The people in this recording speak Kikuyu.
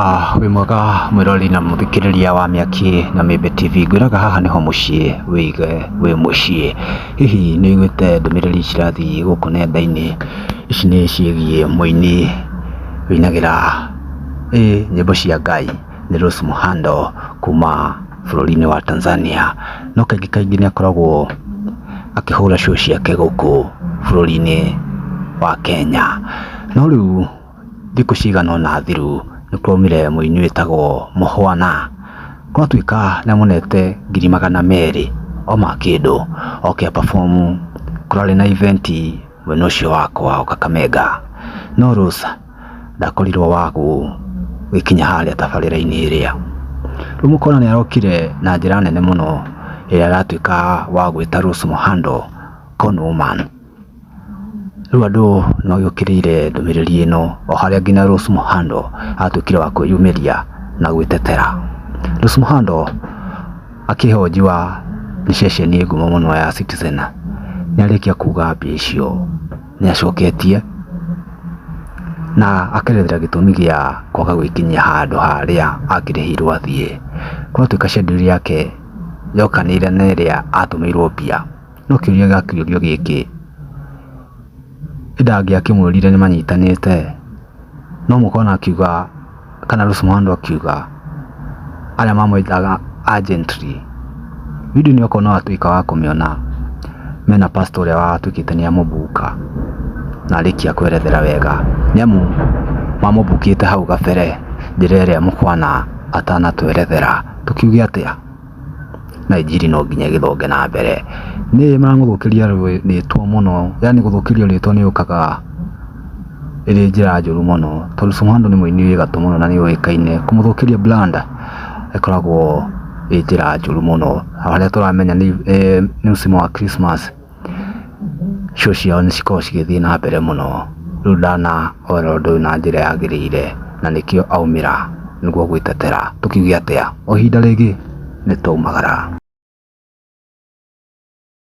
Ah, wĩ mwega mwĩrori na mũthikĩrĩria wa mĩaki na mĩmbe tv ngwĩraga haha nĩho mũciĩ wĩige wĩ mũciĩ hihi nĩ ũiguĩte ndũmĩrĩri cirathiĩ gũkũ nenda-inĩ ici nĩ ciĩgiĩ mũini ũinagĩra ĩ nyĩmbo cia ngai nĩ Rose Muhando kuma bũrũri-inĩ wa Tanzania no kaingĩ kaingĩ nĩ akoragwo akĩhũra show ciake gũkũ bũrũri-inĩ wa Kenya no rĩu Thikũ cigana ũna thiru nĩ kwaumire mũini wĩtagwo Mũhwana. Gwatuĩka nĩ amonete ngiri magana merĩ o ma kĩndũ oke a perform kũrarĩ na event mwena ũcio wa kwao Kakamega. No Rose ndakorirwo wa gũgĩkinya harĩa tabarĩra-inĩ ĩrĩa. Rĩu mũkona nĩ arokire na njĩra nene mũno ĩrĩa aratuĩka wa gwĩta Rose Mũhando Con Woman. Rĩu andũ nĩ magĩũkĩrĩire ndũmĩrĩri ĩno o harĩa nginya Rose Muhando atuĩkire wa kwĩyumĩria na gwĩtetera. Rose Muhando akĩhonjua nĩ ceceni ngumo mũno ya Citizen nĩ arĩkia kuga mbia icio nĩ acoketie na akerethera gĩtũmi gĩa kwaga gwĩkinyia handũ harĩa akĩrĩhĩirwo athiĩ. Gwatuĩka schedule yake yokanĩire na ĩrĩa atũmĩirwo mbia. No kĩũria gĩrakĩũrio gĩkĩ, ĩndĩ angĩakĩmwĩrire nĩ manyitanĩte no mũkona akiuga kana Rusmahando akiuga arĩa mamwĩtaga agentry video ĩno okorwo nĩ watuĩka wa kũmĩona mena pastor ũrĩa watuĩkĩte nĩ amũbuka na arĩkia kwerethera wega nĩ amu mamũbukĩte hau kabere njĩra ĩrĩa mũkwana atanatwerethera tũkiuge atĩa? na injiri no nginya ĩgĩthonge na mbere. Nĩ ma gũthũkĩria rĩtwa mũno yaani gũthũkĩrio rĩtwa nĩ ũkaga ĩrĩ njĩra njũru mũno tondũ Soweto nĩ mũini wĩ gatũ mũno na nĩ ũĩkaine. Kũmũthũkĩria brand ĩkoragwo ĩĩ njĩra njũru mũno. Harĩa tũramenya nĩ mũcimo wa Christmas. show ciao nĩ cikoragwo cigĩthiĩ na mbere mũno. Rĩu ndanaoera ũndũ ũyũ na njĩra yagĩrĩire na nĩkĩo aumĩra nĩguo gwĩtetera. Tũkiuge atĩa? O ihinda rĩngĩ nĩ twaumagara.